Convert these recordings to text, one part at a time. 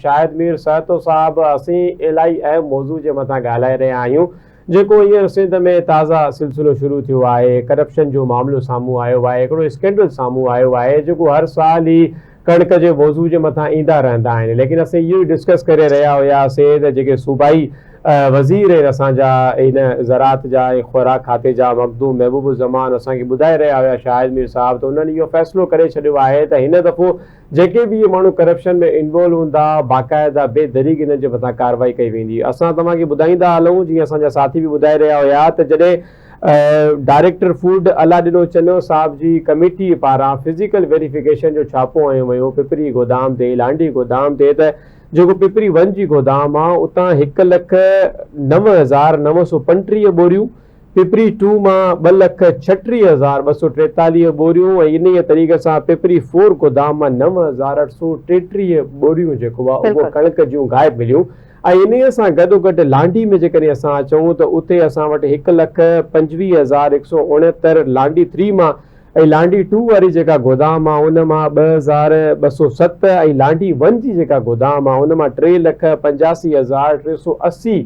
شاهد مير سهتو صاحب اسين الائي اهم موضوع جي مٿان ڳالهائي رهيا آهيون جيڪو هينئر سنڌ ۾ تازه سلسلو شروع ٿيو آهي ڪرپشن جو معاملو سامهون آيو آهي هڪڙو اسڪينڊل سامهون آيو آهي جيڪو هر سال هي ڪڻڪ جي موضوع جي مٿان ايندا رهندا آهن ليڪن اسين اهو ئي ڊسڪس ڪري رهيا هيا سين ته جيڪي صوبائي وزير آهن اسان جا هن زراعت جا ۽ خوراڪ کاتي جا مخدوم محبوب الزمان اسان کي ٻڌائي رهيا هيا شاهد مير صاحب ته انهن اهو فيصلو ڪري ڇڏيو آهي ته هن دفعو جيڪي به اهي ماڻهو ڪرپشن ۾ انوالو هوندا باقاعده بي دريغ انهن جي مٿان ڪارروائي ڪئي ويندي اسان توهان کي ٻڌائيندا هلون جيئن اسان جا ساٿي به ٻڌائي رهيا هيا ته جڏهن ڊائريڪٽر فوڊ الله ڏنو چنيو صاحب جي ڪميٽي پاران فزيڪل ويريفڪيشن جو ڇاپو هنيو ويو پپري گودام تي لانڍي گودام تي ته جيڪو پپري ون جي گودام آ اتان هڪ لک نو هزار نو سؤ پنٽيهه ٻوريون پپري ٽو مان ٻه لک ڇٽيهه هزار ٻه سؤ ٽيتاليهه ٻوريون ۽ انهيء طريقي سان پپري فور گودام مان نو هزار اٺ سؤ ٽيٽيهه ٻوريون جيڪو آهي اهو ڪڻڪ جون غائب مليون ۽ انهيء سان گڏوگڏ لانڍي ۾ جيڪڏهن اسان اچون ته اتي اسان وٽ هڪ لک پنجويهه هزار هڪ سؤ اڻهتر لانڍي ٿري مان ۽ لانڍي ٽو واري جيڪا گودام آهي ان مان ٻه هزار ٻه سؤ ست ۽ لانڍي ون جي جيڪا گودام آهي ان مان ٽي لک پنجاسي هزار ٽي سؤ اسي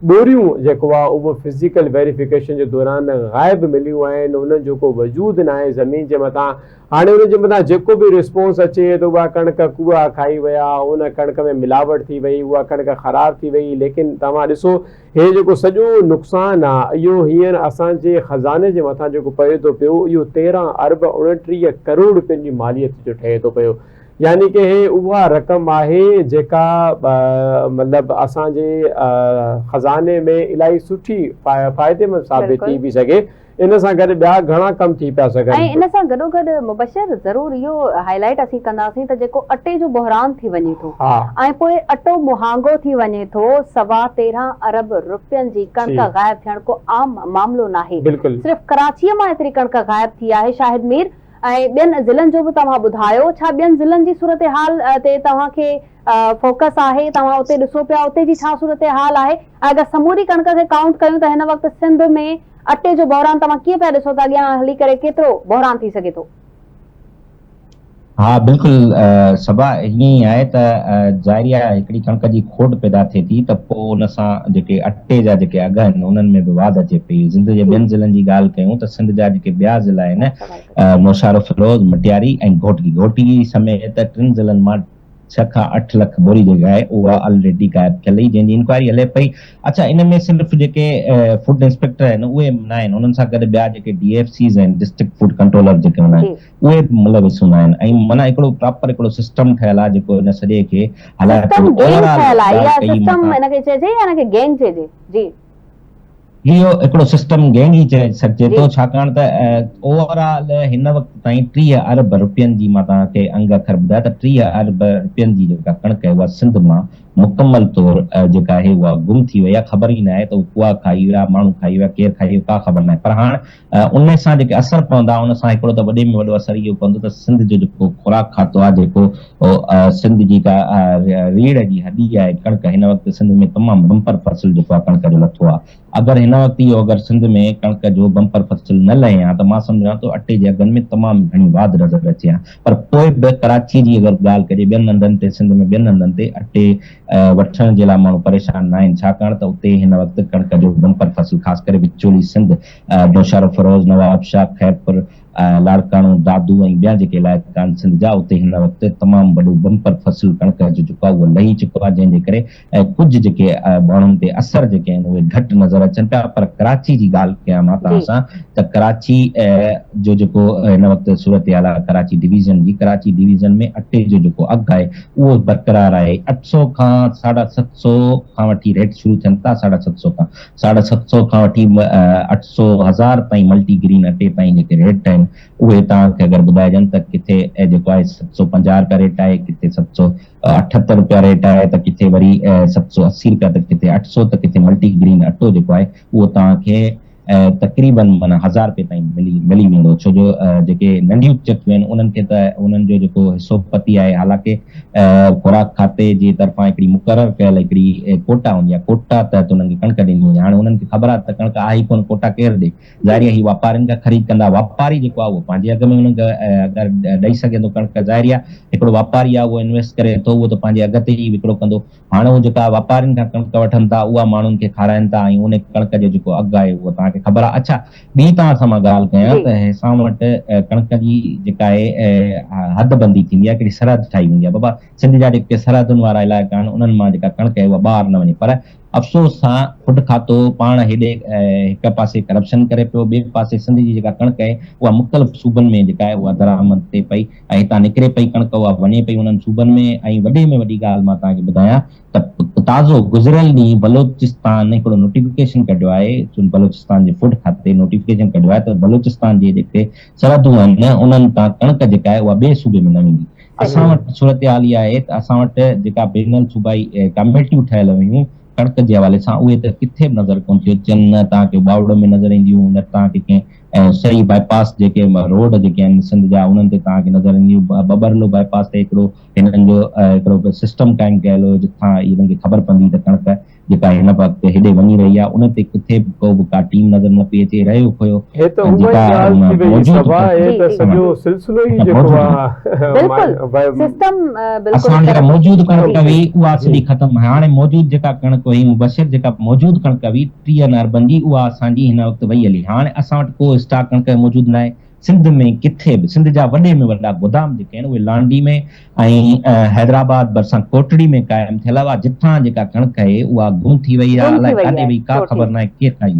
ڏوريون جيڪو آهي اهو فزيڪل ويريفڪيشن جي دوران غائب مليون آهن انهن جو ڪو وجود ناهي زمين جي مٿان هاڻي انهن جي مٿان جيڪو به رسپونس اچي ته اها ڪڻڪ ڪوئا کائي ويا ان ڪڻڪ ۾ ملاوٽ ٿي وئي اها ڪڻڪ خراب ٿي وئي ليڪن توهان ڏسو هي جيڪو سڄو نقصان آهي اهو هينئر اسان جي خزاني جي مٿان جيڪو پئي ٿو پيو اهو تيرهن ارب اڻٽيهه ڪروڙ رپين جي ماليت جو ٺهي ٿو پيو يعني ڪه هي اها رقم آهي جيڪا مطلب اسان جي خزاني ۾ الاهي سٺي فائديمند ثابت ٿي به سگهي ان سان گڏ ٻيا گهڻا ڪم ٿي پيا سگهن. ۽ ان سان گڏوگڏ مبشر ضرور اهو هاء لائيٽ اسين ڪنداسين ته جيڪو اٽي جو بحران ٿي وڃي ٿو ۽ پوء اٽو مهانگو ٿي وڃي ٿو سوا تيرهن ارب رپين جي ڪڻڪ غائب ٿيڻ ڪو عام معاملو ناهي صرف ڪراچي مان ايتري ڪڻڪ غائب ٿي آهي شاهد مير ۽ ٻين ضلعن جو به توهان ٻڌايو ڇا ٻين ضلعن جي صورتحال تي توهان کي فوڪس آهي توهان اتي ڏسو پيا اتي جي ڇا صورتحال آهي ۽ اگر سموري ڪڻڪ کي ڪائونٽ ڪيون ته هن وقت سنڌ ۾ اٽي جو بحران توهان ڪيئن پيا ڏسو ته اڳيان هلي ڪري ڪيترو بحران ٿي سگهي ٿو. ها بلڪل صبا ائين ئي آهي ته ظاهري آهي هڪڙي ڪڻڪ جي کوٽ پيدا ٿئي ٿي ته پوء ان سان جيڪي اٽي جا جيڪي اگهه آهن انهن ۾ به واڌ اچي پئي. سنڌ جي ٻين ضلعن جي ڳالهه ڪيون ته سنڌ جا جيڪي ٻيا ضلعا آهن نوشهرو، فيروز، مٽياري ۽ گهوٽڪي، گهوٽڪي سميت ٽن ضلعن مان ڇهه کان اٺ لک بوري جيڪا آهي اها آلريڊي غائب ٿيل هئي جنهن جي انڪوائري هلي پئي. اڇا ان ۾ صرف جيڪي فوڊ انسپيڪٽر آهن اهي ناهن انهن سان گڏ ٻيا جيڪي ڊي ايف سيز آهن ڊسٽرڪٽ فوڊ ڪنٽرولر جيڪي هوندا آهن اهي به ملوث هوندا آهن ۽ معنيٰ هڪڙو پراپر هڪڙو سسٽم ٺهيل آهي جيڪو ان سڄي کي هلائي ٿو سسٽم گينگ ٺهيل آهي يا سسٽم ان کي چئجي يا ان کي گينگ چئجي جي. اهو هڪڙو سسٽم گينگ ئي چئي سگهجي ٿو ڇاڪاڻ ته اوور آل هن وقت تائين ٽيهه ارب رپين جي مان توهان کي انگ اکر ٻڌايا ته ٽيهه ارب رپين جي جيڪا ڪڻڪ آهي اها سنڌ مان مڪمل طور جيڪا آهي اها گم ٿي وئي آهي خبر ئي ناهي ته اهو ڪوئا کائي ويا ماڻهو کائي ويا ڪير کائي ويو ڪا خبر ناهي پر هاڻ ان سان جيڪي اثر پوندا ان سان هڪڙو ته وڏي ۾ وڏو اثر اهو پوندو ته سنڌ جو جيڪو خوراڪ کاتو آهي جيڪو سنڌ جي جيڪا ريڙهه جي هڏي آهي ڪڻڪ هن وقت سنڌ ۾ تمام بمپر فصل جيڪو آهي ڪڻڪ جو لٿو آهي اگر هن وقت اهو اگر سنڌ ۾ ڪڻڪ جو بمپر فصل نه لهي ها ته مان سمجهان ٿو اٽي جي اگهن ۾ تمام گهڻي واڌ نظر اچي ها پر پوء به ڪراچي جي اگر ڳالهه ڪجي ٻين هنڌن تي سنڌ ۾ ٻين هنڌن تي اٽي وٺڻ جي لاء ماڻهو پريشان ناهن ڇاڪاڻ ته اتي هن وقت ڪڻڪ جو بمپر فصل خاص ڪري وچولي سنڌ نوشهرو، فيروز، نوابشاهه، خيرپور، لاڙڪاڻو، دادو ۽ ٻيا جيڪي علائقا آهن سنڌ جا اتي هن وقت تمام وڏو بمپر فصل ڪڻڪ جو جيڪو آهي اهو لهي چڪو آهي جنهن جي ڪري ڪجهه جيڪي ماڻهن تي اثر جيڪي آهن اهي گهٽ نظر اچن پيا پر ڪراچي جي ڳالهه ڪيان مان توهان سان ته ڪراچي جو جيڪو هن وقت صورتحال آهي ڪراچي ڊويزن جي ڪراچي ڊويزن ۾ اٽي جو جيڪو اگهه آهي اهو برقرار آهي اٺ سؤ کان ساڍا ست سؤ کان وٺي ريٽ شروع ٿين ٿا ساڍا ست سؤ کان ساڍا ست سؤ کان وٺي اٺ سؤ هزار تائين ملٽي گرين اٽي تائين جيڪي ريٽ آهن اهي توهان کي اگر ٻڌائجن ته ڪٿي جيڪو آهي ست سؤ پنجاهه رپيا ريٽ آهي ڪٿي ست سؤ اٺهتر رپيا ريٽ آهي ته ڪٿي وري ست سؤ اسي رپيا ته ڪٿي اٺ سؤ ته ڪٿي ملٽي گرين اٽو جيڪو آهي اهو توهان کي تقريباً معنيٰ هزار رپي تائين ملي ملي ويندو ڇو جو جيڪي ننڍيون چڪيون آهن انهن کي ته انهن جو جيڪو حصو پتي آهي حالانڪه خوراڪ کاتي جي طرفان هڪڙي مقرر ڪيل هڪڙي ڪوٽا هوندي آهي ڪوٽا تحت انهن کي ڪڻڪ ڏني وڃي هاڻي انهن کي خبر آهي ته ڪڻڪ آهي ئي ڪونه ڪوٽا ڪير ڏي ظاهري آهي هي واپارين کان خريد ڪندا واپاري جيڪو آهي اهو پنهنجي اگهه ۾ انهن کي اگر ڏئي سگهي ٿو ڪڻڪ ظاهري آهي هڪڙو واپاري آهي اهو انويسٽ ڪري ٿو اهو ته پنهنجي اگهه تي ئي وڪرو ڪندو هاڻ هو جيڪا واپارين کان ڪڻڪ وٺن ٿا اها ماڻهن کي کارائين ٿا ۽ ان ڪڻڪ جو جيڪو اگهه آهي اهو توهان کي خبر آهي. اڇا ٻي توهان سان مان ڳالهه ڪيان ته اسان وٽ ڪڻڪ جي جيڪا آهي حد بندي ٿيندي آهي ڪهڙي سرحد ٺاهي ويندي آهي بابا سنڌ جا جيڪي سرحدن وارا علائقا آهن انهن مان جيڪا ڪڻڪ آهي اها ٻاهر نه وڃي پر افسوس سان کڊ کاتو پاڻ هيڏي هڪ پاسي ڪرپشن ڪري پيو ٻئي پاسي سنڌ جي جيڪا ڪڻڪ آهي اها مختلف صوبن ۾ جيڪا آهي اها درآمد ٿئي پئي ۽ اتان نڪري پئي ڪڻڪ اها وڃي پئي انهن صوبن ۾ ۽ وڏي ۾ وڏي ڳالهه مان توهان کي ٻڌايان ته تازو گذريل ڏينهن بلوچستان هڪڙو نوٽيفڪيشن ڪڍيو آهي بلوچستان جي فوڊ کاتي نوٽيفڪيشن ڪڍيو آهي ته بلوچستان جي جيڪي سرحدون آهن انهن تان ڪڻڪ جيڪا آهي اها ٻئي صوبي ۾ نه ويندي اسان وٽ صورتحال اها آهي ته اسان وٽ جيڪا بين الصوبائي ڪاميٽيون ٺهيل هيون ڪڻڪ جي حوالي سان اهي ته ڪٿي به نظر ڪونه ٿيون اچن نه توهان کي ٻاوڙو ۾ نظر اينديون نه توهان کي ڪنهن ۽ سري باء پاس جيڪي روڊ جيڪي آهن سنڌ جا انهن تي توهان کي نظر اينديون ٻٻرلو باء پاس تي هڪڙو هنن جو هڪڙو سسٽم قائم ڪيل هو جتان هنن کي خبر پوندي ته ڪڻڪ جيڪا هن وقت هيڏي وڃي رهي آهي ان تي ڪٿي به ڪو به ڪا ٽيم نظر نه پئي اچي رهيو ڦوهيو هي ته هوء ئي ڳالهه ٿي وئي صبا هي ته سڄو سلسلو ئي جيڪو آهي بلڪل سسٽم بلڪل اسان جيڪا موجود ڪڻڪ هئي اها سڄي ختم هاڻي موجود جيڪا ڪڻڪ هئي مبشر جيڪا موجود ڪڻڪ هئي پي اين آر بندي اها اسان جي هن وقت وئي هلي هاڻ اسان وٽ ڪو اسٽاڪ ڪڻڪ موجود ناهي سنڌ ۾ ڪٿي به سنڌ جا وڏي ۾ وڏا گودام جيڪي آهن اهي لانڍي ۾ ۽ حيدرآباد ڀرسان ڪوٽڙي ۾ قائم ٿيل هئا جتان جيڪا ڪڻڪ اهي اها گم ٿي وئي آهي الائي ڪاڏي وئي ڪا خبر ناهي ڪير کائي